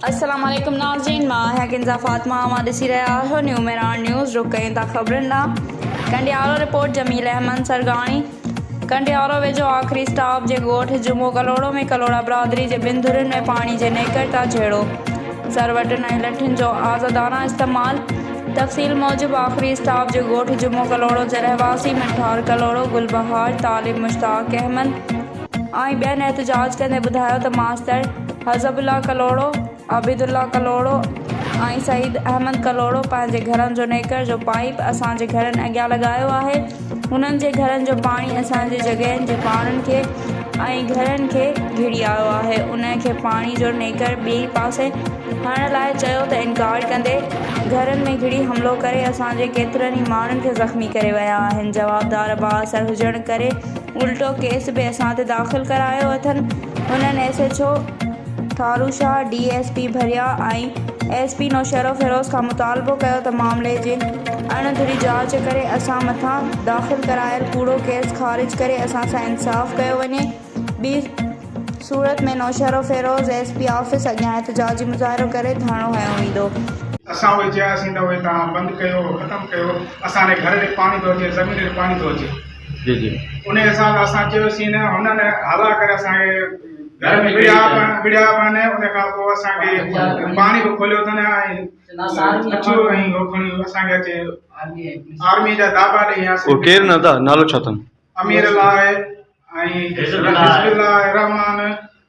السلام عليڪم ناظرين مان آهيان ڪنزا فاطمه اوهان ڏسي رهيا آهيو نيو ميران نيوز رخ ڪيون ٿا خبرن ڏانهن ڪنڊيالو رپورٽ جميل احمد سرگاڻي ڪنڊيارو ويجهو آخري اسٽاپ جي ڳوٺ جمعو ڪلهوڙو ۾ ڪلهوڙا برادري جي ٻن ڌرين ۾ پاڻي جي نيڪر تان جهيڙو، سروٽن ۽ لٺن جو آزادانه استعمال. تفصيل موجب آخري اسٽاپ جي ڳوٺ جمعو ڪلهوڙو جي رهواسي منٺار ڪلهوڙو، گل بهار، طالب مشتاق احمد ۽ ٻين احتجاج ڪندي ٻڌايو ته ماستر حزب الله ڪلهوڙو، عابد الله ڪلهوڙو ۽ سعيد احمد ڪلهوڙو پنهنجي گهرن جو نيڪر جو پائيپ اسان جي گهرن اڳيان لڳايو آهي هنن جي گهرن جو پاڻي اسان جي جڳهين جي پاڙن کي ۽ گهرن کي گهڙي آيو آهي انهن کي پاڻي جو نيڪر ٻئي پاسي هڻڻ لاء چيو ته انڪار ڪندي گهرن ۾ گهڙي حملو ڪري اسان جي ڪيترن ئي ماڻهن کي زخمي ڪري ويا آهن جوابدار بااثر هجڻ ڪري الٽو ڪيس به اسان تي داخل ڪرايو اٿن هنن S H O Tharushah, D S P Bhiria ۽ S P Naushahro Feroze کان مطالبو ڪيو ته معاملي جي اڻ ڌري جاچ ڪري اسان مٿان داخل ڪرايل ڪوڙو ڪيس خارج ڪري اسان سان انصاف ڪيو وڃي ٻي صورت ۾ نوشهروفيروز ايس پي آفيس اڳيان احتجاجي مظاهرو ڪري ڌرڻو هنيو ويندو. اسان اهي چياسين ته اهي توهان بند ڪيو ختم ڪيو اسان ري گهر ري پاڻي ٿو اچي زمين ري پاڻي ٿو اچي. جي جي انهي حساب سان اسان چيوسين هنن هلا ڪري اسان کي گهر ۾ وڙهيا وڙهيا ان کان پوء اسان کي پاڻي به کوليو اٿن ۽ اچو ۽ هو کڻي اسان کي اچي آرمي جا دابا ڏيئي ويا هو ڪير نه ادا نالو ڇا اٿن امير الله ۽ حزب الله رحمان